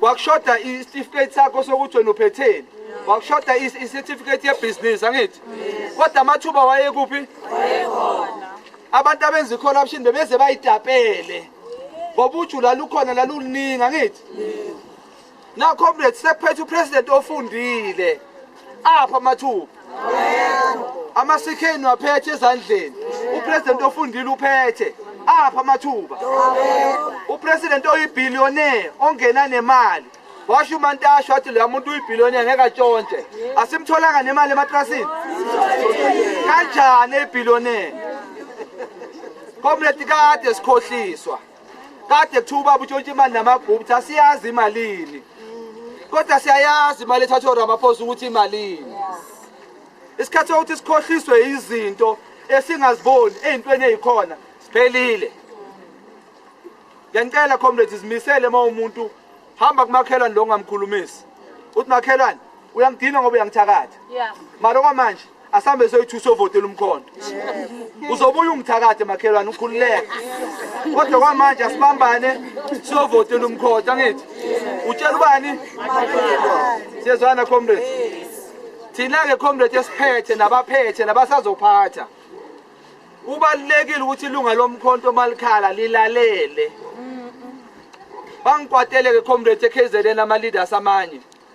wakushoda isitifiketi sakho sokuthi wena uphetheni wakushoda isitifiketi yebhizinisi angithi kodwa amathuba wayekuphi abantu abenza i-corruption bebeze bayitapele ngoba uju lalukhona laluluningi angithi na comrade sekuphethe upresident ofundile apha amathuba amasekheni waphethe ezandleni upresident ofundile uphethe apha amathuba upresident oyibillionaire ongena nemali washo umantasho wathi leya muntu uyibillionaire ngeke atshontshe asimtholanga nemali ematrasini kanjani eyibillionaire komleti kade sikhohliswa kade kuthiwa ubaba utshontsha imali namagupta asiyazi imalini kodwa siyayazi imali ethathwa uramaphosa ukuthi imalini isikhathi sokuthi sikhohliswe izinto esingaziboni ey'ntweni ey'khona siphelile ngiyanicela comrades zimisele uma umuntu hamba kumakhelwane lo ngamkhulumisi uthi makhelwane uyangidina ngoba uyangithakatha mara okwamanje asambe soyi-two sovotela umkhondo uzobuye ungithakathe makhelwane ukhululeke kodwa kwamanje asibambane siyovotela umkhondo angithi utshela ubani siyezwana comrade thina-ke comrade esiphethe nabaphethe nabasazophatha kubalulekile ukuthi ilunga lomkhonto malikhala lilalele bangikwateleke comrade ekhezelen ama-leaders amanye